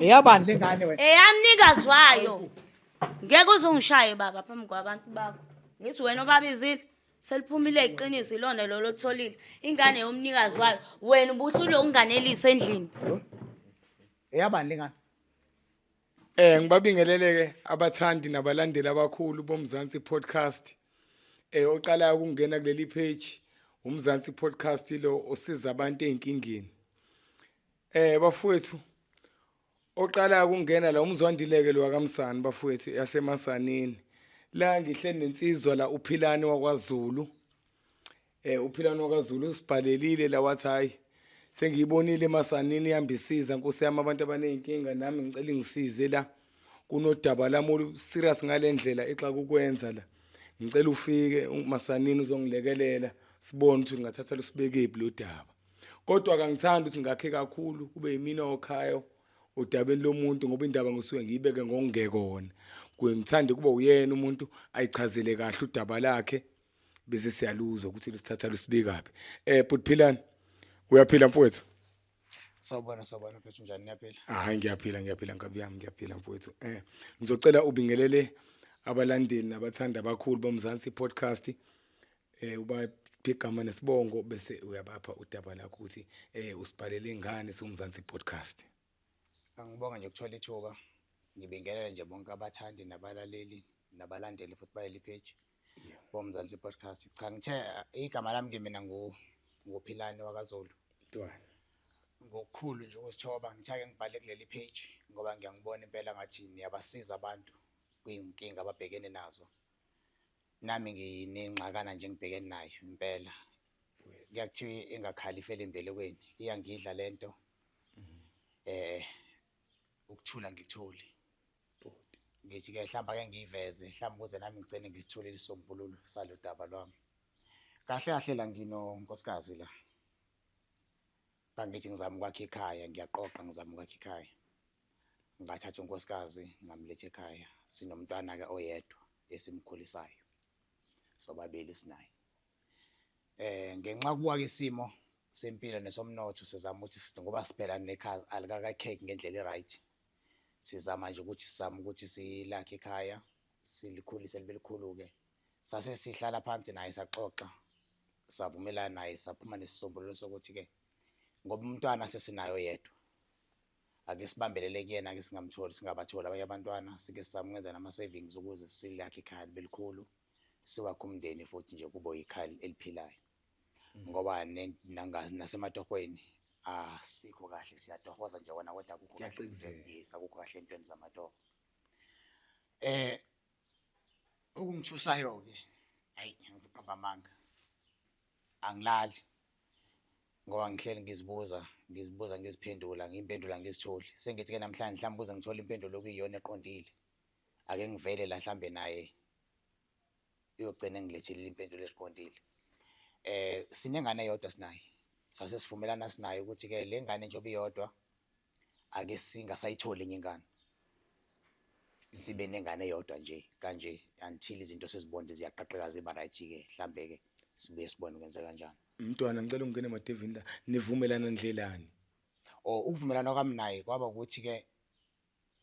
eyabani le ngane wena eyamnikazi wayo ngeke uzungishaye baba phambi kwabantu bakho ngithi wena obabizile seliphumile iqiniso ilona lolo otholile ingane yomnikazi wayo wena ubuhlule ukunganelisa endlini eyabani le ngane Eh ngibabingeleleke abathandi nabalandeli abakhulu bomzansi podcast. Eh oqalayo ukungena kuleli page umzansi podcast lo osiza abantu ezinkingeni. Eh bafowethu oqala ukungena la umzwandileke lo wakamsani bafowethu yasemasanini la ngihle nensizwa la uphilani wakwaZulu Eh uphila nokaZulu usibhalelile la wathi hayi sengiyibonile masanini ihambisiza nkosi yami abantu abanezinkinga nami ngicela ngisize la kunodaba lami olu serious ngalendlela exa kukwenza la ngicela ufike masanini uzongilekelela sibone ukuthi ngingathatha lusibekephi lo daba kodwa kangithandi ukuthi ngakhe kakhulu kube yimina okhayo udabeni lomuntu ngoba indaba ngisuke ngiyibeke ngokungekona ngithande kuba uyena umuntu ayichazele kahle udaba lakhe bese siyaluzwa ukuthi lusithatha lusibikaphi eh bhuti philani uyaphila mfowethu Sawubona sawubona mfethu njani niyaphila? Hayi ngiyaphila ngiyaphila nkabi yami ngiyaphila mfowethu. Eh ngizocela ubingelele abalandeli nabathanda abakhulu bomzansi podcast eh uba igama nesibongo bese uyabapha udaba lakho ukuthi eh usibhalele ngani somzansi podcast. Angibonga nje ukuthola ithuba. Ngibingelele nje bonke abathandi nabalaleli nabalandeli futhi baleli page. bomzansi podcast cha ngithe igama lami ke mina ngu nguphilane wakazulu ntwana ngokukhulu nje ukusithoba ngithe ake ngibhale kuleli page ngoba ngiyangibona impela ngathi niyabasiza abantu kuyinkinga ababhekene nazo nami nginengxakana nje ngibhekene nayo impela kuyakuthiwa ingakhali ifele embelekweni iyangidla lento mhm. eh ukuthula ngithuli bhuti ngithi ke hlamba ke ngiyiveze hlamba ukuze nami ngicene ngisithole isisombululo salo daba lwami kahle kahle la ngino nkosikazi la kangithi ngizama ukwakha ikhaya ngiyaqoqa ngizama ukwakha ikhaya ngathatha unkosikazi ngamletha ekhaya sinomntwana ke oyedwa esimkhulisayo sobabili sinaye eh ngenxa kuwa isimo sempilo nesomnotho sizama ukuthi ngoba sibhekane nekhaya alikakakheki ngendlela eright sizama nje ukuthi sizame ukuthi silakhe ikhaya silikhulise libe likhulu-ke sase sihlala phansi naye saxoxa savumelana naye saphuma nesisombululo sokuthi-ke ngoba umntwana sesinayo yedwa ake sibambelele kuyena ke singamtholi singabatholi abanye abantwana sike sizame ukwenza nama-savings ukuze silakhe ikhaya libe likhulu siwakhe umndeni futhi nje kubo ikhaya eliphilayo mm. ngoba nasematohweni asikho ah, kahle siyatohoza nje wona kodwa kukho kahleyisa kukho kahle entweni zamatoho eh okungithusayo ke ayi ngiqamba amanga angilali ngoba ngihleli ngizibuza ngizibuza ngiziphendula ngimpendula ngizitholi sengithi ke namhlanje mhlawumbe kuze ngithole impendulo okuyiyona eqondile ake ngivele la mhlambe naye uyogcina engilethile impendulo eziqondile eh sinengane eyodwa sinayo sase sivumelana sinayo ukuthi ke le ngane njengoba iyodwa ake singasayitholi enye ingane sibe nengane eyodwa nje kanje until izinto sezibonde ziyaqaqeka ziba right ke mhlambe ke sibuye sibone kwenza kanjani mntwana ngicela ungene emadevini la nivumelana ndlelani or ukuvumelana kwami naye kwaba ukuthi ke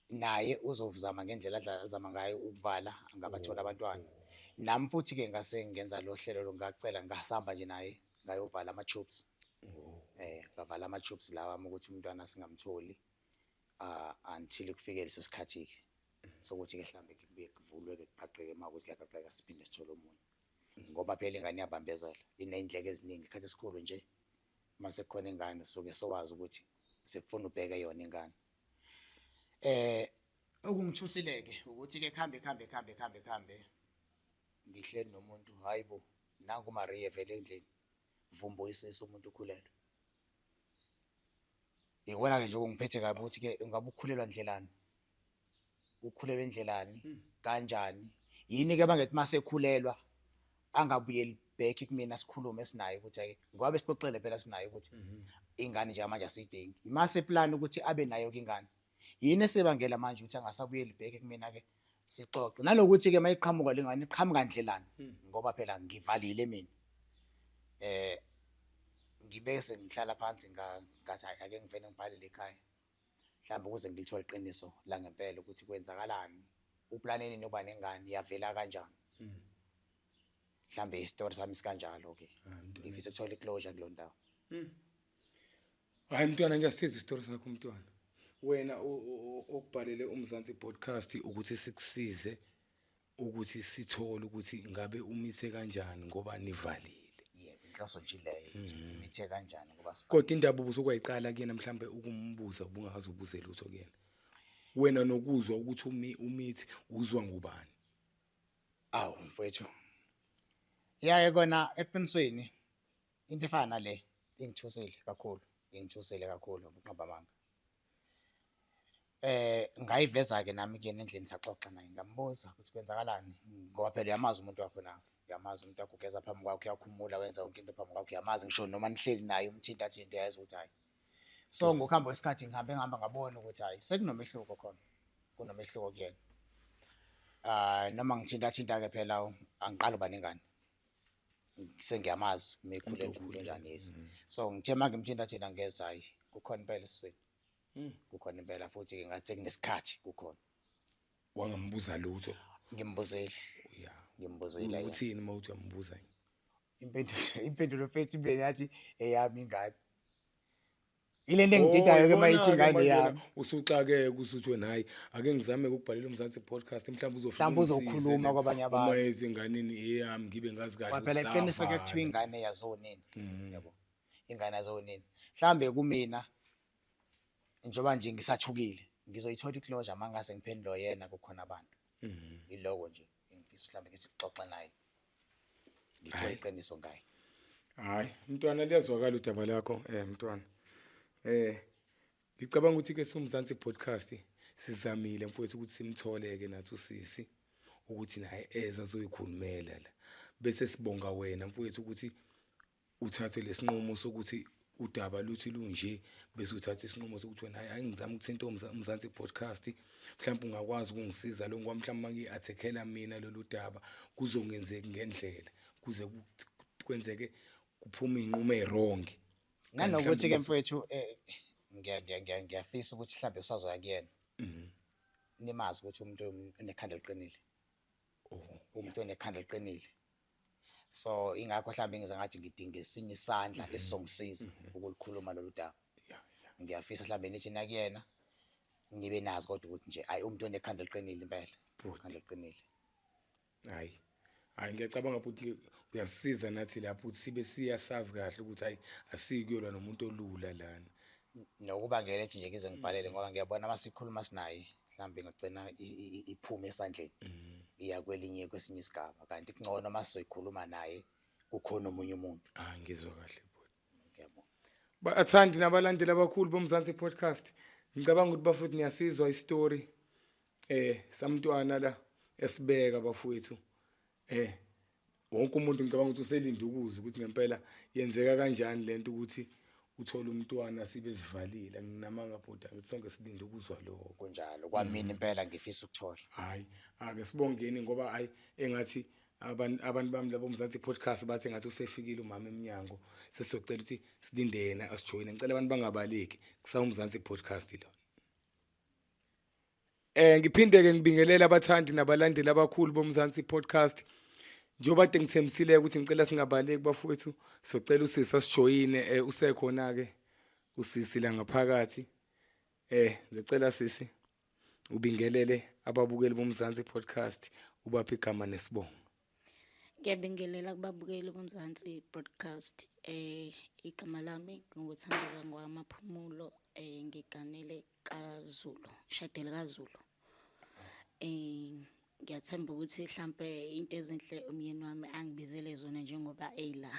naye uzozama ngendlela azama ngayo ukuvala angabatholi mm. abantwana nami futhi ke ngase ngenza lo hlelo longacela ngasihamba nje naye ngayovala ama tubes mm. eh ngavala ama tubes lawa ukuthi umntwana singamtholi uh, until kufike leso sikhathi ke mm. sokuthi ke mhlambe kubuye kuvulwe ke kuqaqeke uma ukuthi kuyaqaqeka siphinde sithole omunye ngoba phela ingane iyabambezela ineyindleke eziningi isikhathi esikhulu nje uma sekukhona ingane usuke sowazi ukuthi sekufuna ubheke yona ingane eh okungithusileke ukuthi ke khambe khambe khambe khambe khambe ngihleli nomuntu hayibo nangu Maria vele endlini vumbo isiso umuntu ukhulelwe ngikubona ke nje okungiphethe kabi ukuthi ke ungabe ukhulelwa ndlelani Ukhulelwe ndlelani kanjani yini ke bangethi masekhulelwa angabuyeli back kumina sikhulume sinaye ukuthi ake ngoba besixoxele phela sinaye ukuthi mhm. ingane njengamanje asiyidingi imase plan ukuthi abe nayo ke ingane yini esebangela manje ukuthi angasabuyeli back kumina ke sixoxe nalokuthi ke mayiqhamuka lengane iqhamuka ndlelani hmm. ngoba phela ngivalile mina eh ngibe sengihlala phansi ngathi ake ngivele ngibhalele ekhaya mhlawumbe ukuze ngilithole iqiniso langempela ukuthi kwenzakalani uplaneni nokuba nengane yavela kanjani hmm. mhlawumbe isitori sami sikanjalo ke ah, ngifisa ukuthola iclosure kulo ndawo hmm. hayi mntwana ngiyasiza isitori sakho mntwana wena okubhalele umzansi podcast ukuthi sikusize ukuthi sithole ukuthi ngabe umise kanjani ngoba nivalile yebo inhloso nje leyo ukuthi mm. umithe kanjani ngoba sifana kodwa indaba ubusokuyiqala kuyena mhlambe ukumbuza ubungazi ubuze lutho kuyena wena nokuzwa ukuthi umi umithi uzwa ngubani awu mfethu yaye kona eqinisweni into efana nale ingithusile kakhulu ingithusile kakhulu ukunqaba amanga eh ngayiveza ke nami ke nendlini saxoxa naye ngambuza ukuthi kwenzakalani ngoba phela uyamazi umuntu wakho na uyamazi umuntu wakho ugeza phambi kwakho uyakhumula wenza yonke into phambi kwakho uyamazi ngisho noma nihleli naye umthinta athi into yazi ukuthi hayi so ngokuhamba kwesikhathi ngihambe ngihamba ngabona ukuthi hayi sekunomehluko khona kunomehluko kuyena ah noma ngithinta thinta ke phela angiqala uba nengane sengiyamazi uma ekhule ekhule ngangezi mm. so ngithe uma ngimthinta thina ngezwa hhayi kukhona impela esweni mm. kukhona impela futhi-ke ngathi sekunesikhathi kukhona wangambuza lutho ngimbuzile ya ngimbuzile uthini uma uthi uyambuza impendulo impendulo mfethu imleni yathi eyami ingane Ile nto engididayo ke mayithi ingane yami. Usuxakeke usuthi wena hayi ake ngizame ukubhalela uMzansi podcast mhlawumbe uzofuna mhlawumbe uzokhuluma kwabanye abantu. Uma yenza inganeni eyami ngibe ngazi kahle. Kwaphela iqiniso ke kuthiwa ingane yazonini. Mm. Yebo. Ingane yazonini. Mhlambe kumina njengoba nje ngisathukile ngizoyithola iclosure mangase ngiphendula yena kukhona abantu. Mm. Iloko nje engifisa mhlambe ngisixoxe naye. ngithe Hayi. iqiniso ngaye hayi mntwana liyazwakala udaba lakho eh mntwana eh ngicabanga ukuthi ke somzansi podcast sizamile mfowethu ukuthi simtholeke nathi usisi ukuthi naye eza zoyikhulumela la bese sibonga wena mfowethu ukuthi uthathe lesinqumo sokuthi udaba luthi lunje bese uthatha isinqumo sokuthi wena hayi ngizama ukuthinta umzansi podcast mhlawumbe ungakwazi ukungisiza lo ngoba mhlawumbe mangi-athekela mina lolu daba kuzongenzeki ngendlela kuze kwenzeke kuphume iy'nqumo ey'rongi nanokuthi-ke mfowethu um ngiyafisa ukuthi mhlawumbe usazoya kuyena mhm. nimazi ukuthi umuntu unekhanda eliqinile oh, umuntu onekhanda eliqinile so ingakho mhlawumbe ngize ngathi ngidinga esinye isandla mhm. esizongisiza mhm. ukulikhuluma lolu daba ngiyafisa mhlawumbe nithi nakuyena nibe nazi kodwa ukuthi nje ayi umuntu onekhanda liqinile impela khanda liqinile hayi hayi ngiyacabanga ukuthi uyasisiza nathi lapho ukuthi sibe siyasazi kahle ukuthi hayi asikuyolwa nomuntu olula lana nokuba ngeke ethi nje ngize ngibhalele ngoba ngiyabona uma sikhuluma sinaye mhlawumbe ingagcina iphume esandleni mm. iya kwelinye kwesinye isigaba kanti kungcono uma sizoyikhuluma naye kukhona omunye umuntu ah ngizwa kahle bhuti ngiyabonga bathandi nabalandeli abakhulu bomzansi podcast ngicabanga ukuthi bafowethu niyasizwa isitori eh samntwana la esibeka bafowethu Eh wonke umuntu ngicabanga ukuthi uselinde ukuzwa ukuthi ngempela yenzeka kanjani lento ukuthi uthole umntwana sibe sivalile nginamanga bhuti angithi sonke silinde ukuzwa lokho kunjalo kwamina mm. impela ngifisa ukuthola hayi ake sibongeni ngoba hayi engathi abantu abantu bami labo mzansi podcast bathi ngathi usefikile umama eminyango sesizocela ukuthi silinde yena asijoyine ngicela abantu bangabaleki kusawumzansi podcast lo Eh ngiphinde ke ngibingelele abathandi nabalandeli abakhulu boMzansi podcast. Njengoba de ngithembisile ukuthi ngicela singabaleki bafowethu socela usisi asijoyine eh usekhona ke usisi la ngaphakathi. Eh ngicela sisi ubingelele ababukeli boMzansi podcast ubaphi igama nesibongo. Ngiyabingelela kubabukeli boMzansi podcast. Eh igama lami nginguthandeka ngwamaphumulo eh ngiganele kaZulu ishadeli kaZulu eh ngiyathemba ukuthi mhlambe into ezinhle umyeni wami angibizele zona njengoba eyila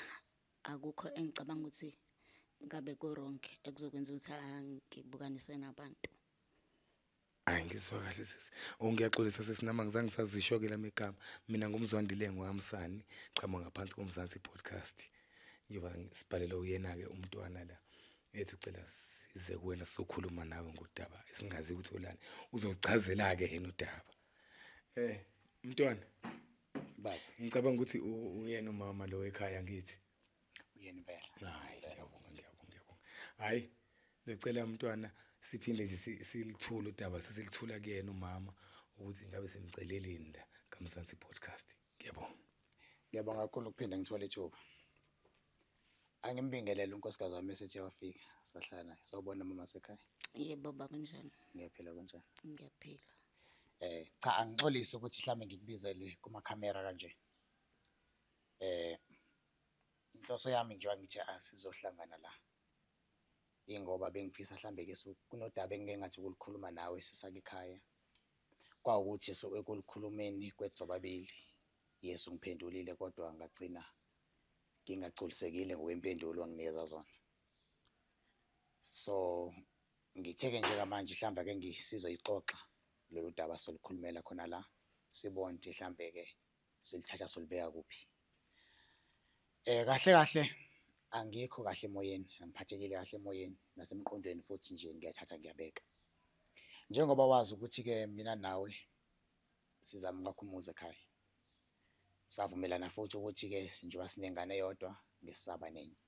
akukho engicabanga ukuthi ngabe ko wrong ekuzokwenza ukuthi angibukanise nabantu hayi ngizwa kahle sisi ongiyaxolisa sisi nama ngizange sazisho ke lamegama mina ngumzwandile ngohamsani qhamuka ngaphansi komzansi podcast ngiyoba sibhalele uyena ke umntwana la ethi ucela size kuwena sokhuluma nawe ngodaba esingazi ukuthi ulani uzochazela ke yena udaba eh mntwana baba ngicabanga ukuthi uyena umama lo ekhaya ngithi uyena impela hayi ngiyabonga ngiyabonga ngiyabonga hayi ngicela mntwana siphinde nje silithula udaba sesilithula kuyena umama ukuthi ngabe simceleleni la kamsansi podcast ngiyabonga ngiyabonga kakhulu ukuphinde ngithole ithuba Angimbingelele unkosikazi wami esethe wafika sahlala naye. Sawubona mama sekhaya. Yebo baba kunjani? Ngiyaphila kunjani? Ngiyaphila. Eh cha angixolisi ukuthi mhlambe ngikubizele kuma camera kanje. Eh inhloso yami nje ngithi asizohlangana la. Ingoba bengifisa mhlambe ke kunodaba engike ngathi ukulikhuluma nawe sisakikhaya. Kwawukuthi so ekulikhulumeni kwethu sobabili. Yesu ngiphendulile kodwa ngagcina ngingagculisekile ngokwempendulo anginikeza zona so ngitheke nje kamanje mhlawumbe ake ngisizoyixoxa lolu daba solukhulumela khona la sibone ukuthi mhlawumbe-ke silithatha solibeka kuphi um kahle kahle angikho kahle emoyeni angiphathekile kahle emoyeni nasemqondweni futhi nje ngiyathatha ngiyabeka njengoba wazi ukuthi-ke mina nawe sizama ukwakha umuzi ekhaya Savumelana futhi ukuthi-ke njengoba sinengane eyodwa ngesisaba nenye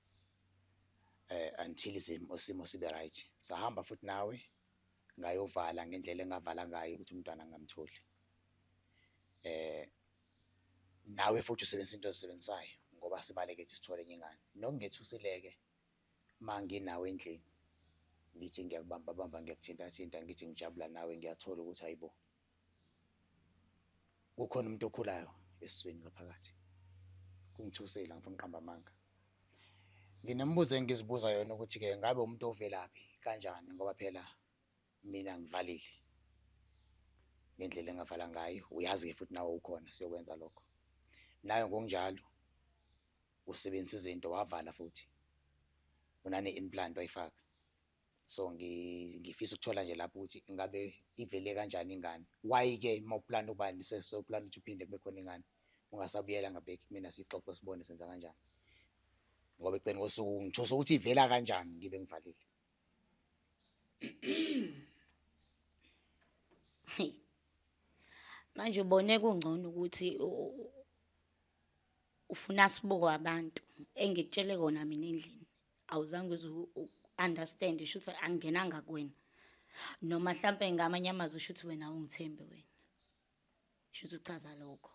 eh until isimo sibe right sahamba futhi nawe ngayovala ngendlela engavala ngayo ukuthi umntwana ngamtholi eh nawe futhi usebenzisa into ozisebenzisayo ngoba sibaleke ukuthi sithole enye ingane nokungethusileke manginawe endlini ngithi ngiyakubamba bamba ngiyakuthinta thinta ngithi ngijabula nawe ngiyathola ukuthi hayibo kukhona umuntu okhulayo esiswini ngaphakathi kungithusela ngifuna uqamba amanga nginembuzo engizibuza yona ukuthi ke ngabe umuntu ovelaphi kanjani ngoba phela mina ngivalile ngendlela engavala ngayo uyazi ke futhi nawe ukhona siyokwenza lokho nayo ngokunjalo usebenzisa izinto wavala futhi unane implant wayifaka so ngifisa ukuthola nje lapho ukuthi ingabe ivele kanjani ingane why-ke uma uplana ukuba nisesoplana ukuthi uphinde kube khona ingane ungasabuyela ngabheki kumina siyixoxe sibone senza kanjani ngoba ekugcini kosuku ngithosa ukuthi ivela kanjani ngibe ngivalile manje ubone kungcono ukuthi ufuna sibuko abantu engikutshele kona mina endlini awuzange uze understand isho ukuthi angenanga kuwena noma mhlampe ngamanye amazwi usho ukuthi wena awungithembi wena isho ukuthi uchaza lokho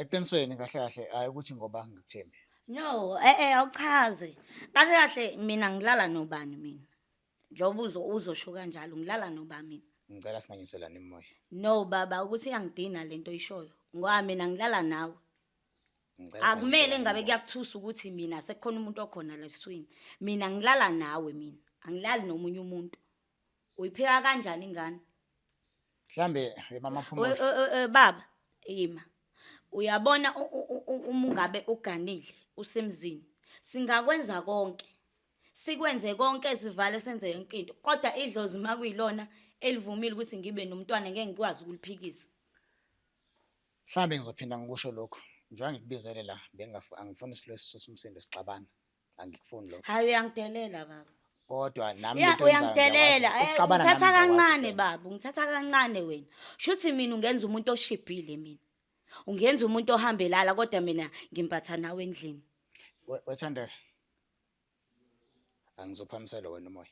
eqinisweni kahle kahle hayi ukuthi ngoba ngikuthembi no eh eh awuchaze kahle kahle mina ngilala nobani mina Njengoba uzo uzosho kanjalo ngilala noba mina. Ngicela singanyiselani imoya. No baba ukuthi iyangidina lento oyishoyo. Ngoba mina ngilala nawe. Ngicela Akumele singanyiselani ngabe imoya. kuyakuthusa ukuthi mina sekukhona umuntu okhona leswini. Mina ngilala nawe mina. Angilali nomunye umuntu. Uyipheka kanjani ingane? Mhlambe eh, mama phuma. We- we- we- we- Baba yima. Uyabona u- u- u- u- uma ungabe uganile usemzini. Singakwenza konke. Sikwenze konke sivale senze yonke into kodwa idlozi makuyilona elivumile ukuthi ngibe nomntwana ngeke ngikwazi ukuliphikisa. Mhlambe ngizophinda ngikusho lokho njengoba ngikubizele la bengafu angifuni isilo esisusa umsindo sixabana angikufuni lokho. Hayi uyangidelela baba. Kodwa nami Ya into engizayo uyangidelela ngiyakwazi Eh, ukuxabana nami ngithatha ngiyakwazi kancane ukwenza. baba ngithatha kancane wena. Shuthi mina ungenza umuntu oshibhile mina. Ungenza umuntu ohambelala kodwa mina ngimpatha nawe endlini. We- Wethandeka angizophamisela wena umoya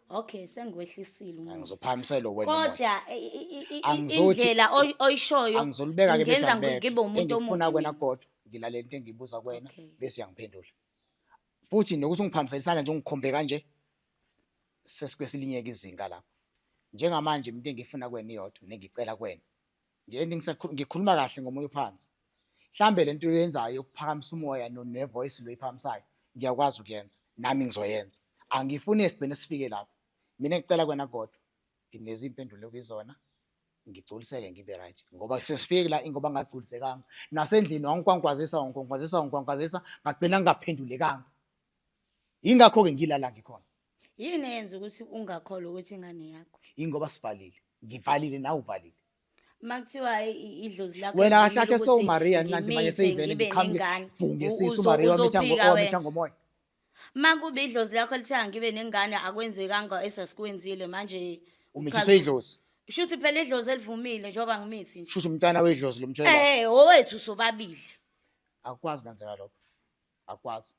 okay sengiwehlisile umoya angizophamisela wena umoya kodwa i- i- i- i- Angizothi- indlela oy- oyishoyo angizolibeka ke ingenza ngi- ngibe umuntu engikufuna omubi. kwena kodwa ngilalele into engiyibuza kwena Okay. bese uyangiphendula futhi nokuthi ungiphambisele isandla nje ungikhombe kanje sesikwesilinye-ke izinga lapho njengamanje into engiyifuna kwena iyodwa nengicela kwena ngeni ngikhuluma kahle ngomoya ophansi mhlambe lento uyenzayo yokuphakamisa umoya ne voice lo iphakamisayo ngiyakwazi ukuyenza nami ngizoyenza angifuni esigcine sifike lapho mina ngicela kwena kodwa nginezi impendulo kuyizona ngigculiseke ngibe right ngoba sesifike la ingoba ngagculisekanga nasendlini wangikwankwazisa wangikwankwazisa wangikwankwazisa ngagcina ngingaphendulekanga yingakho-ke ngilala ngikhona Yini eyenza ukuthi ungakholwa ukuthi ingane yakho? Ingoba sivalile. Ngivalile nawe uvalile. Uma kuthiwa i- i- idlozi lakho Wena livumile kahlahle ukuthi sowuMariya nina manje ngimise, seyivele ngibe nje qhamuke nengane, bhunge u- isisu uzo- uMariya wamitha ngo- uzophika wamitha wena. ngomoya. Uma kuba idlozi lakho lithiya ngibe nengane akwenzekanga esasikuwenzile manje Umithiswe uchaza- idlozi. Kusho ukuthi phela idlozi elivumile njengoba ngimithi nje. Shusha umntana wedlozi lomtshela. Eh, owethu sobabili. Akukwazi kwenzeka lokho. akwazi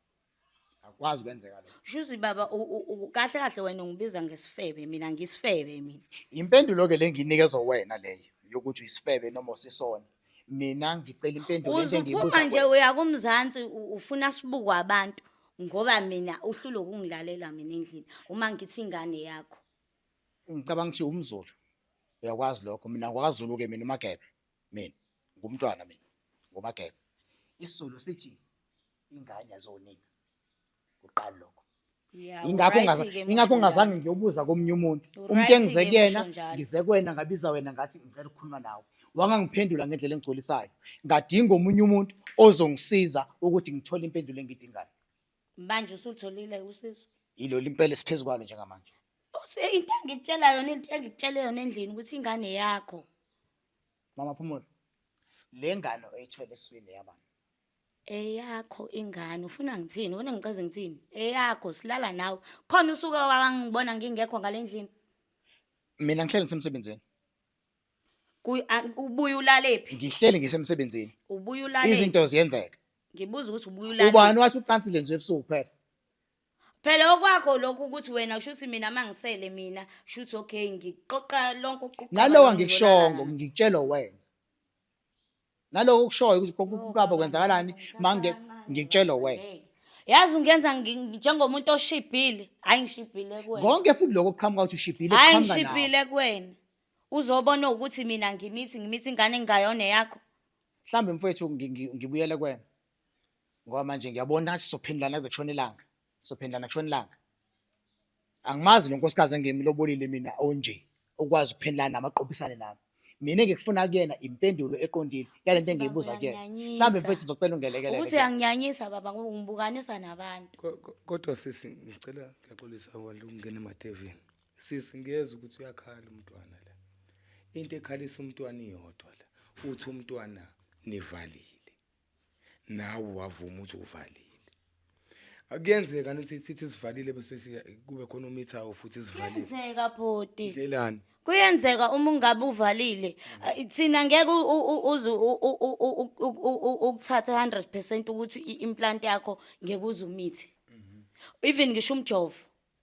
akwazi kwenzeka lokho Shuthi baba u- u- u- kahle kahle wena ungibiza ngesifebe mina ngisifebe mina. impendulo ke lenginikezwe wena leyo yokuthi uyisifebe noma usisona mina ngicela impendulo into engiyibuza Uzuphuma nje kuwena. uya kumzansi u- ufuna sibuku abantu ngoba mina uhlule ukungilalela mina endlini uma ngithi ingane yakho. ngicabanga ukuthi umzulu uyakwazi lokho mina ngwakazulu ke mina umagebe mina ngumntwana mina ngumagebe isizulu sithi ingane yazonina kuqala lokho ingakho ngaza ingakho ngazange ngiyobuza komunye umuntu umuntu engize kuyena ngize kwena ngabiza wena ngathi ngicela ukukhuluma nawe wangangiphendula ngendlela engigcolisayo ngadinga omunye umuntu ozongisiza ukuthi ngithole impendulo engidingayo manje usulitholile usizo yilo limpela siphezu kwalo njengamanje into engikutshela yona into engikutshele yona endlini ukuthi ingane yakho Mama Phumulo, le ngane oyithwele eswini yabani? Eyakho ingane ufuna ngithini? Ufuna ngicaze ngithini? Eyakho silala nawe. Khona usuke wangibona ngingekho ngalendlini. Mina ngihleli ngisemsebenzini. Kuy- a- Ubuye ulalephi? Ngihleli ngisemsebenzini. Ubuye ulalephi? Izinto ziyenzeka. Ngibuza ukuthi ubuye Ubani ulalephi? wathi ucansi lenziwe ebusuku kuphela? phela okwakho lokhu ukuthi wena kusho ukuthi mina uma ngisele mina kusho ukuthi okay ngiqoqa lonke ukuquqa nalowa ngikushongo ngikutshelwa wena naloko okushoyo ukuthi konke ukuqaba kwenzakalani mange ngikutshelwa wena yazi ungenza njengomuntu oshibhile hayi ngishibhile kuwena konke futhi lokho kuqhamuka ukuthi ushibhile hayi ngishibhile kuwena uzobona ukuthi mina ngimithi ngimithi ingane engayona yakho mhlawumbe mfowethu ngibuyele kuwena ngoba manje ngiyabona ukuthi sizophendulana kuze kushona ilanga sizophendulana kushona ilanga angimazi lo nkosikazi engemilobolile mina onje ukwazi ukuphendulana nami aqophisane nami mina ngikufuna kuyena impendulo eqondile yale nto engiyibuza kuyena mhlawumbe mfethu ngizocela ungelekelele ukuthi uyanginyanyisa baba ngoba ungibukanisa nabantu Ko- ko- kodwa sisi ngicela ngiyaxolisa wandla ukungena emadevini sisi ngiyeza ukuthi uyakhala umntwana la into ekhalisa umntwana iyodwa la uthi umntwana nivalile nawe wavuma ukuthi uvalile akuyenzeka ukuthi sithi sivalile bese kube khona umithayo futhi sivalile kuyenzeka bhoti ndlelani kuyenzeka uma ungabe uvalile thina ngeke uze ukuthathe 100% ukuthi i-implant yakho ngeke uze umithi even ngisho umjovo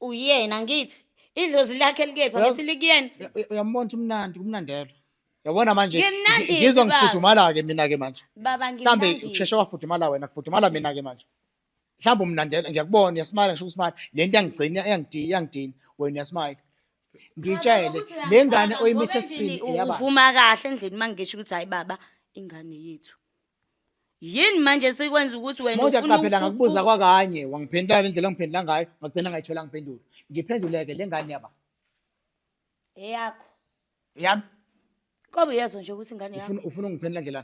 uyena ngithi idlozi lakhe likephi Uyazi- ngithi likuyena Uya- uya- uyambona ukuthi umnandi kumnandelo yabona manje Ngimnandi ngi- ngizwa yini, baba? ngifudumala-ke mina-ke manje baba mhlawumbe ngimnandi kusheshe wafudumala wena kufudumala mina-ke manje mhlawumbe umnandela ngiyakubona uyasimala ngisho ukusimala le nto yangigcina iyangidini iyangidini wena uyasimala ngiyitshele Ukuthi le uyazibamba, ngane ngoba oyimithe endlini esiswini u- eyabani uvuma kahle endlini uma ngisho ukuthi hayi baba ingane yethu yini manje esikwenza ukuthi wena Manje ufuna qaphela uku- ngakubuza u- kwakanye wangiphendula ngendlela ongiphendula ngayo ngagcina ngayithola ngiphendula ngiphenduleke le ngane yaba eyakho yami kobe uyazo nje ukuthi ingane yakho ufuna ufuna ungiphendula ndlela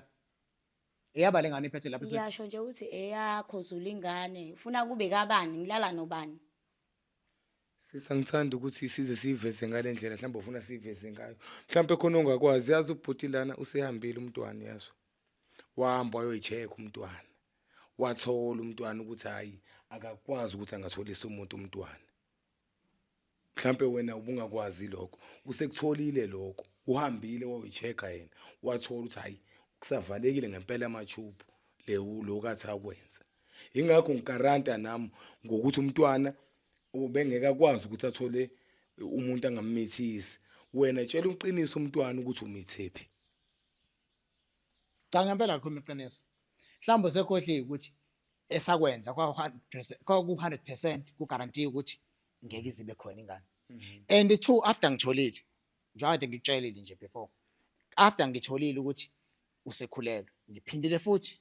eyaba le ngane iphethe lapha esweni. ngiyasho nje ukuthi eyakho zula ingane ufuna kube kabani ngilala nobani Sisa ngithanda ukuthi size siveze ngale ndlela mhlawumbe ufuna siveze ngayo. Mhlawumbe khona ongakwazi yazi ubhuti lana usehambile umntwana yazi. Wahamba wayoyicheck umntwana. Wathola umntwana ukuthi hayi akakwazi ukuthi angatholisa umuntu umntwana. Mhlawumbe wena ubungakwazi lokho. Usekutholile lokho. Uhambile wayoyichecka yena. Wathola ukuthi hayi kusavalekile ngempela amachubu le lo kathi akwenze. ingakho ngikaranta nami ngokuthi umntwana ubengeke akwazi ukuthi athole umuntu angammithisi wena tshela uqiniso umntwana ukuthi umithephi cha ngempela likhuluma iqiniso mhlawumbe sekhohliwe ukuthi esakwenza kwaku-hundred percent kugarantiye ukuthi ngeke izibe khona ingane mhm. and two after ngitholile njengade ngikutshelile nje before after ngitholile ukuthi usekhulelwe ngiphindile futhi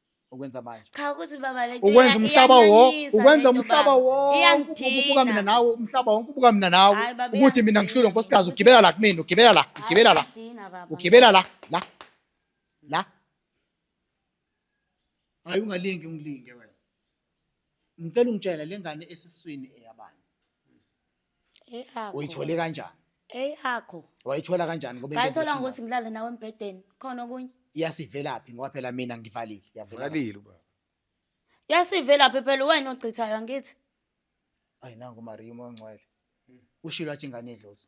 ukwenza manje cha ukuthi baba le ukwenza umhlaba wonke ukwenza umhlaba wonke ubuka mina nawe umhlaba wonke ubuka mina nawe ukuthi mina ngihlule nkosikazi ugibela la kumina ugibela la ugibela la ugibela la la la hayi ungalingi ungilinge wena ngicela ungitshela lengane esiswini eyabani eyakho uyithole kanjani eyakho wayithola kanjani ngoba ngayithola ngokuthi ngilale nawe embhedeni khona okunye iyasivelaphi ngoba phela mina ngivalile yavela ngalile ubaba yasivelaphi phela wena ogcithayo angithi ayi nangu Maria umoya ongcwele ushilo athi ingane idlozi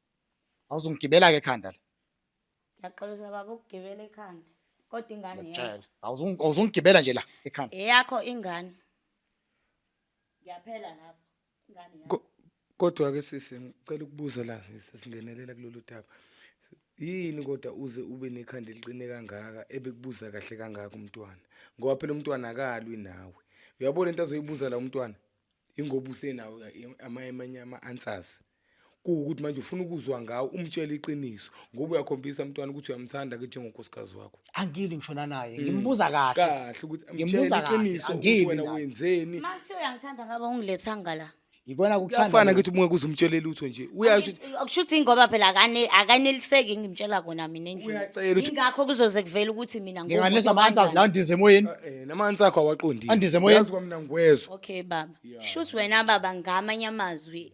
awuzungigibela ke ekhanda la ngiyaxolisa baba ukugibela ekhanda kodwa ingane yakho ngiyakutshela Awuzung- awuzungigibela nje la ekhanda eyakho ingane ngiyaphela lapho ingane yakho Ko- Kodwa ke sisi ngicela ukubuza la sisi singenelela kulolu daba. Yini kodwa uze ube nekhanda eliqine kangaka ebekubuza kahle kangaka umntwana? Ngoba phela umntwana akalwi nawe. Uyabona into azoyibuza la umntwana? Ingoba usenawo ama amanye ama answers. kuwukuthi manje ufuna ukuzwa ngawo umtshela iqiniso ngoba uyakhombisa umntwana ukuthi uyamthanda ke njengonkosikazi wakho angili ngishona naye ngimbuza kahle kahle ukuthi amtshele Ngimbuza kahle, iqiniso ukuthi angili wena mina. wenzeni Uma kuthiwa uyangithanda ngaba ungilethanga la. yikona kuyafana kuthanda ukuthi uma kuze umtshele lutho nje uyasho ukuthi Akusho ukuthi ngoba phela akane akaneliseki ngimtshela kona mina endlini. Uyacela ukuthi- Ingakho kuzoze kuvela ukuthi mina ngiwumuntu nginganisa amanzi azi la okanjani. ndize emoyeni eh namanzi akho awaqondile Andize emoyeni. Yazi kwamina ngikwezwa Okay baba. Shuthi wena baba ngamanye amazwi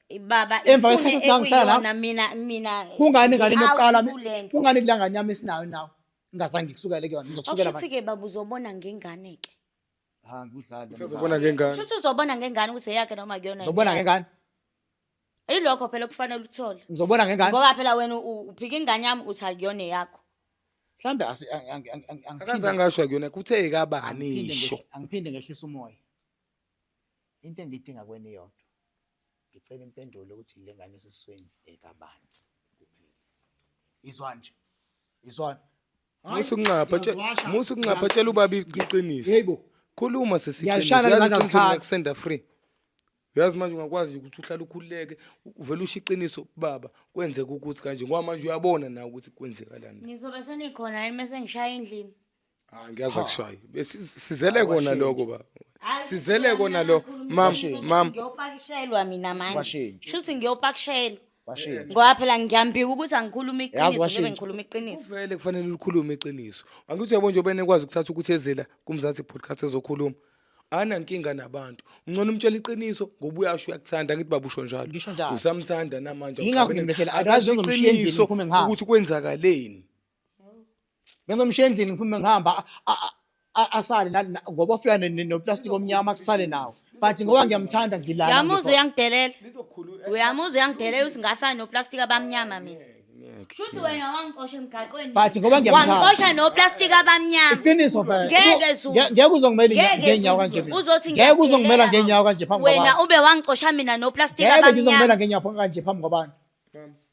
baba emva kwesikhathi esingangihlala lapho mina mina kungani ngane nokuqala kungani kulangane yami esinayo nawo ngingazange ngikusukele kuyona ngizokusukela manje ke baba uzobona ngengane ke ha ngudlala uzobona ngengane shuthi uzobona ngengane ukuthi eyakhe noma kuyona uzobona ngengane ilokho phela kufanele uthole ngizobona ngengane ngoba phela wena uphika ingane yami uthi akuyona eyakho mhlambe akazange asho kuyona kuthe kabani isho angiphinde ngehlisa umoya Into engiyidinga kuwena iyodwa. Ngicela impendulo ukuthi le ngane esesiswini ekabani kuphela. Izwani nje. Izwani. Musa ukunxapha tshela Ngiyazwasha. musa ukunxapha tshela ubaba iqiniso. Yebo. Khuluma sesi Ngiyalishaya iqiniso. lezandla Uyazi iqiniso zikhathi. lingakusenda free. Uyazi manje ungakwazi ukuthi uhlale ukhululeke uvele usho iqiniso baba kwenzeka ukuthi kanje ngoba manje uyabona nawe ukuthi kwenzekalani. Nizobe senikhona yini mese ngishaya endlini? Ah ngiyazi akushayi. Besizele kona lokho baba. Sizele kona lo mam mam ngiyopakishelwa mina manje Washeni. shuthi ngiyopakishelwa Washeni. ngoba phela ngiyambika ukuthi angikhuluma Yazi iqiniso washeni. ngibe ngikhuluma iqiniso uvele kufanele ulikhulume iqiniso. Angithi uyabona nje ubene kwazi ukuthatha ukuthi ezela kumzansi podcast ezokhuluma. Ana nkinga nabantu. Ungcono umtshela iqiniso ngoba uyasho uyakuthanda ngithi baba usho njalo. Ngisho njalo. Usamthanda namanje. Yingakho ngimlethela. Akazi Akazi uzomshiya endlini iqiniso ngiphume ngihambe. ukuthi kwenzakaleni. bengomshiya endlini ngiphume ngihamba asale ngoba ofika noplastic omnyama kusale nawo but ngoba ngiyamthanda ngilala uyamuzwa uyangidelela uyamuzwa uyangidelela ukuthi ngasale noplastic abamnyama mina Shuthi wena wangixosha emgaqweni. But ngoba ngiyamthanda. Wangixosha no plastic abamnyama. Iqiniso mfana. Ngeke zu. Ngeke uzongimela ngenyawo kanje mina. Uzothi ngeke uzongimela ngenyawo kanje phambi kwabantu. Wena ube wangixosha mina no plastic abamnyama. Ngeke uzongimela ngenyawo kanje phambi kwabantu.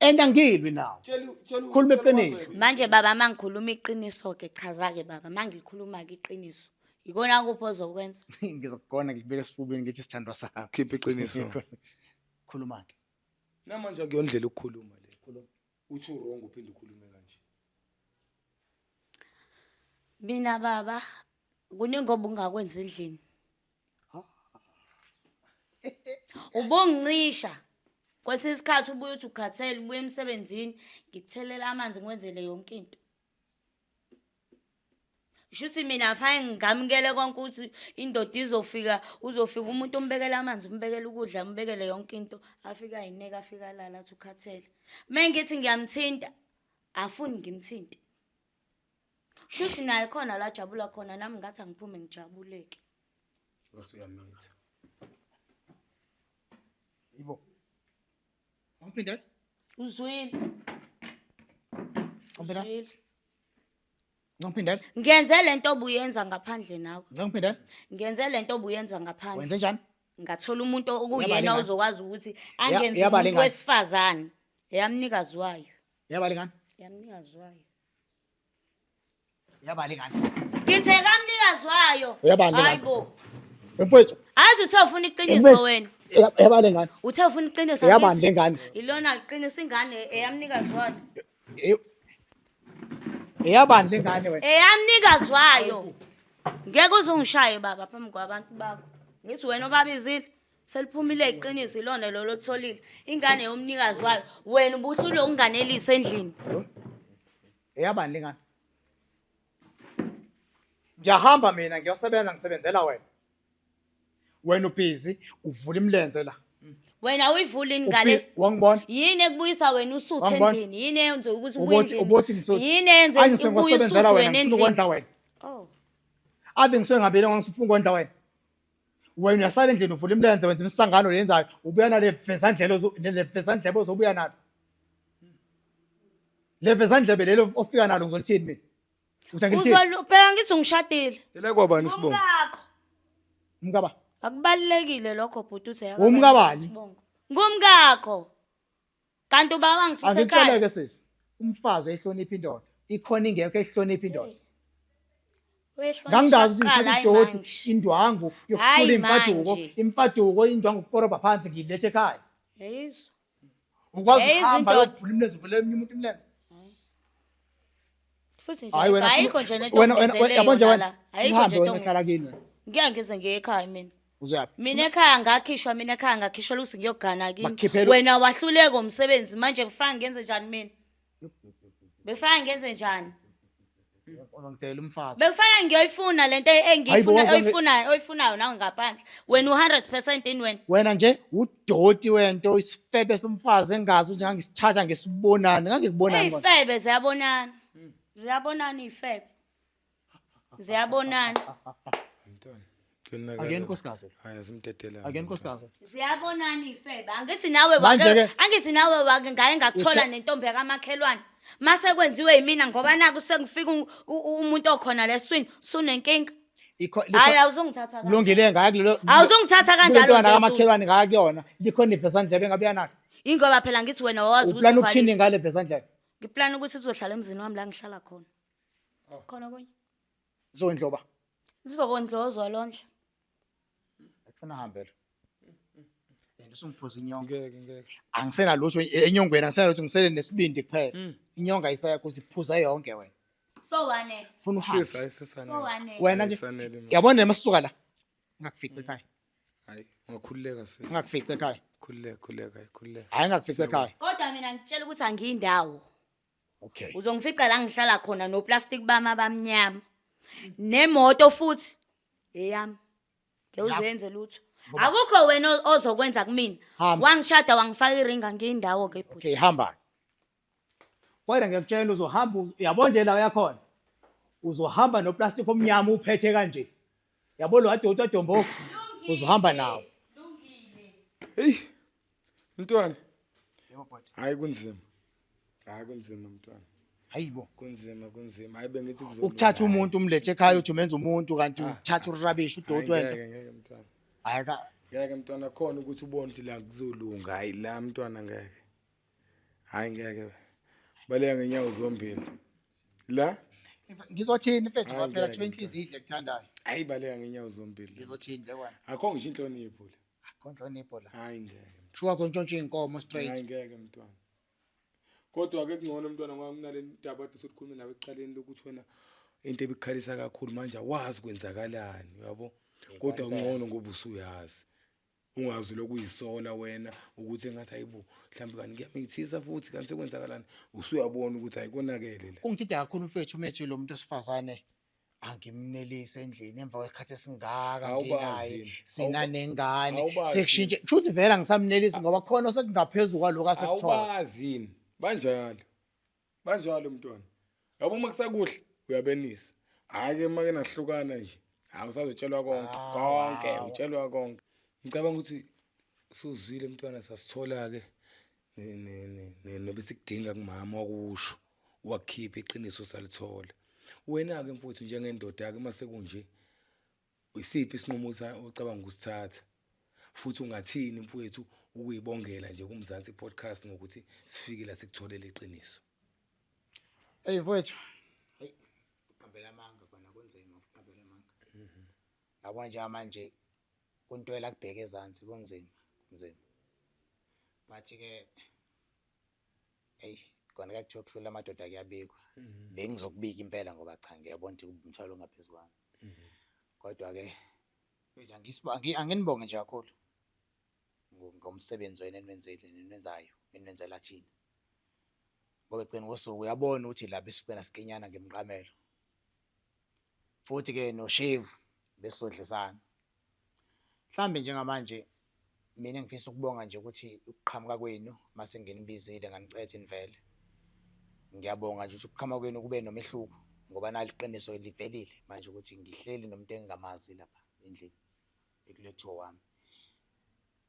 and angilwi nawo khuluma iqiniso manje baba uma ngikhuluma iqiniso-ke chaza-ke baba uma ngilikhuluma-ke iqiniso yikona kuphi ozokwenza ngizokugona ngikubeka esifubeni ngithi sithandwa sakho khipha iqiniso khuluma-ke namanje akuyondlela ukukhuluma le khuluma uthi urong uphinde ukhulume kanje mina baba kuningi obungakwenza endlini ubongincisha kwesinye isikhathi ubuye uthi ukhathele ubuye emsebenzini ngikuthelela amanzi ngiwenzele yonke into shuthi mina fane ngamukele konke ukuthi indoda izofika uzofika umuntu umbekele amanzi umbekele ukudla umbekele yonke into afika ayineke afika alala athi ukhathele uma ngithi ngiyamthinta afuni ngimthinte Shuthi naye khona la jabula khona nami ngathi angiphume ngijabuleke. Bese uyamitha. Yibo. Awuphinde? Uzwile. Awuphinde? Uzwile. Ngikuphinde? Ngenze lento obuyenza ngaphandle nawe. Ngikuphinde? Ngenze lento obuyenza ngaphandle. Wenze njani? Ngathola umuntu okuyena ozokwazi ukuthi angenze umuntu wesifazane. Yamnikazi wayo. Yabalekani? Yamnikazi wayo. Yabalekani? Ngithe kamnikazi wayo. Uyabalekani? Hayibo. Mfowethu. Azi uthe ufuna iqiniso wena. Yabale ngane. Uthe ufuna iqiniso. Yabande ngane. Ilona iqiniso ingane eyamnikazi wayo. Eyabande ngane wena. Eyamnikazi wayo. Ngeke uzungishaye baba phambi kwabantu bakho. Ngithi wena obabizile. Seliphumile iqiniso ilona lolo otholile. Ingane yomnikazi wayo. Wena ubuhlule ukunganelisa endlini. Eyabani lengane? Ngiyahamba mina ngiyosebenza ngisebenzela wena. Wena ubhizi uvula imlenze la. Wena uyivula ingane. Ubhi- Wangibona? Yini ekubuyisa wena usuthe Wangibona? endlini? Yini eyenza ukuthi ubuye Ubothi ubothi endlini? ngisuthi. Yini eyenza Anje ukuthi ubuye sengikwasebenzela usuthe wena wena ngifuna ukondla endlini? wena. Oh. Ave ngisuke ngabile ngisifuna ukondla wena. wena uyasala endlini uvula imilenze wenza imisangano leyenzayo ubuya nale vezandlebe le vezandlebe ozobuya nalo le vezandlebe lelo ofika nalo ngizolithini mina uthi angilithini uzolubheka ngithi ungishadile Yela kwabani isibongo? umkakho umkaba akubalulekile lokho bhuti uze Umkabani? ngumkakho kanti uba wangisusa ekhaya angikuceleke sisi umfazi ehlonipha indoda ikhona ingekho ehlonipha indoda ngangingazi ukuthi ngithatha idoti indwangu yokusula imfaduko imfaduko indwangu kukoroba phansi ngiyilethe ekhaya ukwazi ukuhamba yokuvula imilenze uvule eminye umuntu imilenze Futhi nje Hhayi wena, ayikho nje nento wena- wena- ongibizeleyo yabona nje wena, lala. Ayikho uhambe nje wena into hlala kini wena. Ngeke ngize ngiye ekhaya mina. Uzuyaphi? Mina ekhaya ngakhishwa mina ekhaya ngakhishwa luthi ngiyogana Bakukhiphela- kini. Wena wahluleka umsebenzi manje kufanga ngenze njani mina? Befana ngenze njani? Ungidela umfazi. Befana ngiyoyifuna lento Hayibo, engiyifuna waze wange- oyifunayo oyifunayo nawe ngaphandle. Wena u100% in wena. Wena nje u- doti wento isifebe somfazi engazi ukuthi ngangisithatha ngesibonani ngangikubonani kodwa. Eyifebe ziyabonana. Ziyabonana iyifebe. Ziyabonana. Mntwana. Kuyonakala. Akuyena unkosikazi. Hayi asimdedela. akuyena unkosikazi Ziyabonana iyifebe. Angithi nawe Manje wake ke- angithi nawe wake ngaye ngakuthola Uthe- nentombi yakamakhelwane. Mase kwenziwe yimina ngoba naku sengifika u- u- umuntu okhona leswini sunenkinga. Ikho- likho- hayi awuzongithatha kanjalo. kulungile ngaya kulelo awuzongithatha kanjalo kulentwana nje, Zulu. kamakhelwane ngaya kuyona likhona ivesandlebe engabuya nalo ingoba phela ngithi wena wawazi ukuthi uplana uvalile. ukuthini ngale vesandlebe ngiplana ukuthi sizohlala emzini wami la ngihlala khona khona kunye zondloba lizokondlozwa londla Ufuna hambe lo. Yena usungiphuza inyonga. Ngeke ngeke. Angisena lutho enyongweni angisena lutho ngisele nesibindi kuphela. Inyonga isaya kuthi phuza yonke wena. So wane. Funa uhambe. Sisi hayi sesanele. So wane. Wena nje. Ayisanele mina. Yabona nemasuka la. Ngakufica ekhaya. Hayi ungakhululeka sisi. Ngakufica ekhaya. Khululeka khululeka khululeka. Hayi ngakufica ekhaya. Kodwa mina ngitshela ukuthi angiyindawo. Okay. Uzongifica la ngihlala khona no plastic bami abamnyama. Nemoto futhi eyami. Ngeke Lapho. uzenze lutho. Ngoba- Akukho wena o- ozokwenza kumina. Hamba. Wangishada wangifaka iring angiyindawo ke bhuti. Okay, hamba. Kodwa ngiyakutshela uzohamba uz- yabo nje la uyakhona. Uzohamba no plastic omnyama uphethe kanje. Yabo lo adoti adombo uzohamba nawo. Hey, Mntwana. Yebo bhuti. Hayi kunzima. Hayi kunzima mntwana. Hayibo. Kunzima kunzima. Hayi bengithi kuzoba. Ukuthatha umuntu umlethe ekhaya uthi umenza umuntu kanti ah, uthatha urubbish udoti wento. Ngeke ngeke mntwana. Hayi ka. Ngeke mntwana khona ukuthi ubone ukuthi la kuzolunga. Hayi la mntwana ngeke. Hayi ngeke. Baleka ngenyawo zombili. La ngizothini mfethu kwaphela kuthiwa inhliziyo idle kuthandayo ayibaleka ngenyawo zombili ngizothini nje wena akho ngisho inhlonipho le Konhlonipho la. Hayi ngeke. Shuwa zontshontsha inkomo straight. Hayi ngeke mntwana. Kodwa ke kungcono mntwana ngoba kunale ndaba ade sokukhuluma nawe eqaleni lokuthi wena into ebikhalisa kakhulu manje awazi kwenzakalani uyabo. Kodwa kungcono ngoba usuyazi. Ungazi lokuyisola wena ukuthi engathi hayibo mhlawumbe kanti kuyamithisa futhi kanti sekwenzakalani usuyabona ukuthi ayikonakele la. Ungithida kakhulu mfethu umethi lo muntu osifazane angimnelise endlini emva kwesikhathi esingaka nginaye sina nengane sekushintshe kushuthi vele angisamnelisi ngoba khona osekungaphezulu kwaloko asekuthola awubazini banjalo banjalo mntwana yabo uma kusakuhle uyabenisa hhayi ke uma kenahlukana nje hhayi usazotshelwa konke ah, konke utshelwa konke ngicabanga ukuthi usuzwile mntwana sasithola-ke nebesikudinga kumama wakusho wakhipha iqiniso usalithola wena-ke mfowethu njengendoda-ke uma sekunje isiphi isinqumo ocabanga ukusithatha futhi ungathini mfowethu ukuyibongela nje kumzansi podcast ngokuthi sifike la sikutholele iqiniso eyi mfowethu Yabo njengamanje kuntwela kubheke ezansi kunzima kunzima but ke eish kona kuyakuthiwa ukuhlula amadoda kuyabikwa mhm. bengizokubika impela ngoba cha ngiyabona ukuthi umthwalo ongaphezulu kwami mhm. kodwa ke mfethu angisibonge anginibonge nje kakhulu ngomsebenzi wena enwenzile nenwenzayo enwenzela thina ngoba egcina kosuku uyabona ukuthi lapha isigcina sikinyana ngemqamelo futhi ke noshevu besizodlisana mhlambe njengamanje mina ngifisa ukubonga nje ukuthi ukuqhamuka kwenu mase nginibizile nganicethe nivele ngiyabonga nje ukuthi ukuqhamuka kwenu kube nomehluko ngoba naliqiniso livelile manje ukuthi ngihleli nomuntu engingamazi lapha endlini ekulethiwa wami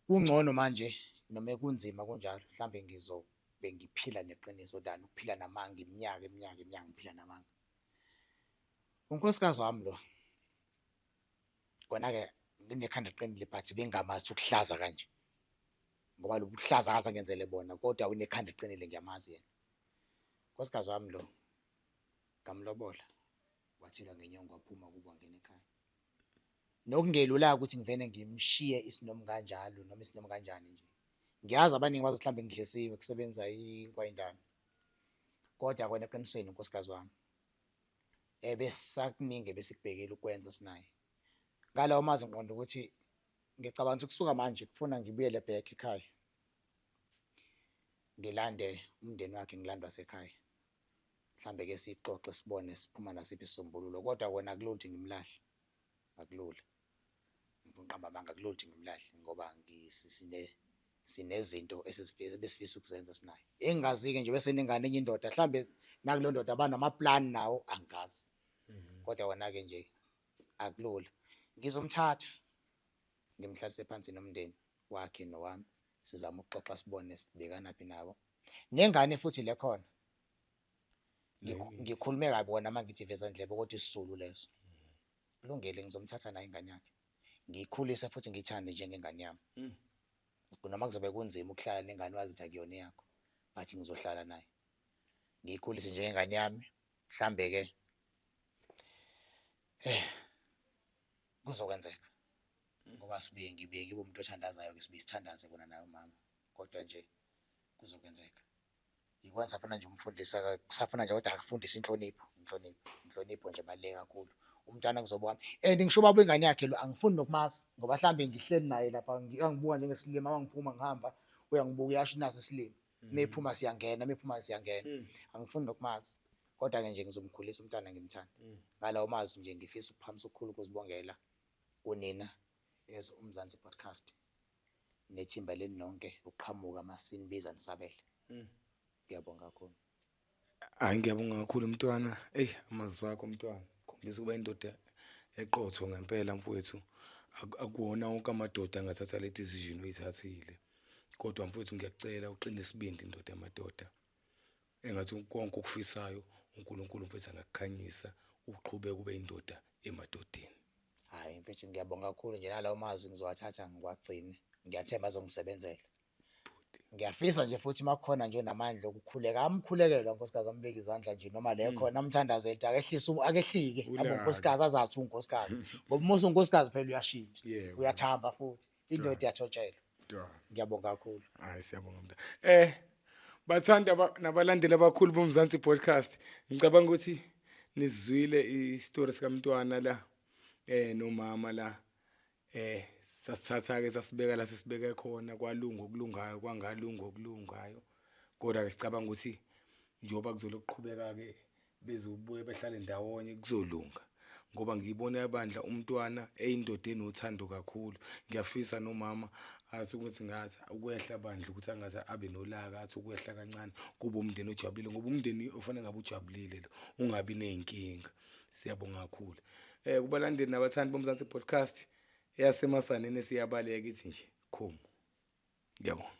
kungcono manje noma kunzima kunjalo mhlambe ngizobe ngiphila neqiniso than ukuphila namanga iminyaka iminyaka iminyaka ngiphila namanga Unkosikazi wami lo. Kona-ke nginekhanda liqinile but bengingamazi ukuthi ukuhlaza kanje. Ngoba lobu buhlaza akaze angenzele bona kodwa unekhanda eliqinile ngiyamazi yena. Unkosikazi wami lo ngamlobola wathelwa ngenyongo waphuma kubo wangena ekhaya. Nokungelula-ke ukuthi ngivele ngimshiye isinomu kanjalo noma isinomu kanjani nje. Ngiyazi abaningi bazothi mhlawumbe ngidlisiwe kusebenza inkwa indala. Kodwa kona eqinisweni unkosikazi wami ebesakuningi ebesikubhekile ukwenza sinaye. Ngalawo mazwi ngiqonda ukuthi ngicabanga ukuthi kusuka manje kufuna ngibuyele back ekhaya. Ngilande umndeni wakhe ngilandwa sekhaya. Mhlambe ke sixoxe sibone siphuma nasiphi isisombululo kodwa kona akulula ukuthi ngimlahle. Akulula. Ngiqamba amanga kuloluthi ngimlahle ngoba sinezinto ebesifisa ukuzenza sinaye. Engingazike nje bese nengane enye indoda mhlambe nakulo ndoda abanama-plan nawo angazi. Mhm. Kodwa wona-ke nje akulula. Ngizomthatha ngimhlalise phansi nomndeni wakhe nowami sizama ukuxoxa sibone sibekanaphi nabo. Nengane futhi le khona ngikhulume kabi wona uma ngithi veza ndlebe ukuthi isisulu leso. Kulungile ngizomthatha naye ingane yakhe. Ngiyikhulise futhi ngiyithande njengengane yami. Mm. Noma kuzobe kunzima ukuhlala nengane wazitha kuyona yakho, but ngizohlala naye. Ngiyikhulise njengengane yami. Mhlambe ke eh kuzokwenzeka. Mm. Ngoba sibuye ngibuye ngibe umuntu othandazayo ke sibuye sithandaze kona naye umama. Kodwa nje kuzokwenzeka. Yikona safuna nje umfundisa kusafuna nje kodwa akafundise inhlonipho inhlonipho inhlonipho nje baluleke kakhulu umntwana kuzoba wami and ngisho ubaba ingane yakhe lo angifuni nokumazi ngoba mhlawumbe ngihleli naye lapha angibuka njengesilima angiphuma ngihamba uyangibuka uyasho naso isilima mephuma mm. siyangena mephuma siyangena mm. angifuni nokumazi kodwa ke nje ngizomkhulisa umntwana ngimthanda mm. ngalawo mazi nje ngifisa ukuphamisa ukukhulu ukuzibongela kunina as umzansi podcast nethimba lenu nonke ukuqhamuka masinibiza nisabele mm. ngiyabonga kakhulu hayi ngiyabonga kakhulu mntwana eyi amazwi akho mntwana khombisa ukuba indoda eqotho ngempela mfowethu akuwona wonke amadoda angathatha le decision oyithathile kodwa mfowethu ngiyacela uqine isibindi indoda yamadoda Engathi konke okufisayo uNkulunkulu mfethu angakukhanyisa uqhubeke ube indoda emadodeni. Hayi mfethu ngiyabonga kakhulu nje nalawo mazwi ngizowathatha ngiwagcine. Ngiyathemba azongisebenzela. Ngiyafisa nje futhi makukhona nje namandla okukhuleka amkhulekela unkosikazi ambeke izandla nje noma le hmm. khona amthandaze ethi akehlise akehlike abunkosikazi azathi unkosikazi ngoba musa unkosikazi phela uyashintsha uyathamba futhi indoda yathotshelwa ngiyabonga kakhulu hayi siyabonga mnta eh bathanda nabalandeli abakhulu bomzansi podcast ngicabanga ukuthi nizwile isitori sikamntwana la eh nomama la eh sasithatha ke sasibeka la sisibeke khona kwalunga okulungayo kwangalunga okulungayo kodwa ke sicabanga ukuthi njengoba kuzolokuqhubeka ke bezobuya behlale ndawonye kuzolunga ngoba ngiyibona yabandla umntwana eyindoda enothando kakhulu ngiyafisa nomama athi ukuthi ngathi ukwehla bandla ukuthi angaze abe nolaka athi ukwehla kancane kuba umndeni ojabulile ngoba umndeni ofanele ngabe ujabulile lo ungabi nezinkinga siyabonga kakhulu eh kubalandeli nabathandi bomzansi podcast eyasemasaneni siyabaleka ithi nje khomo ngiyabonga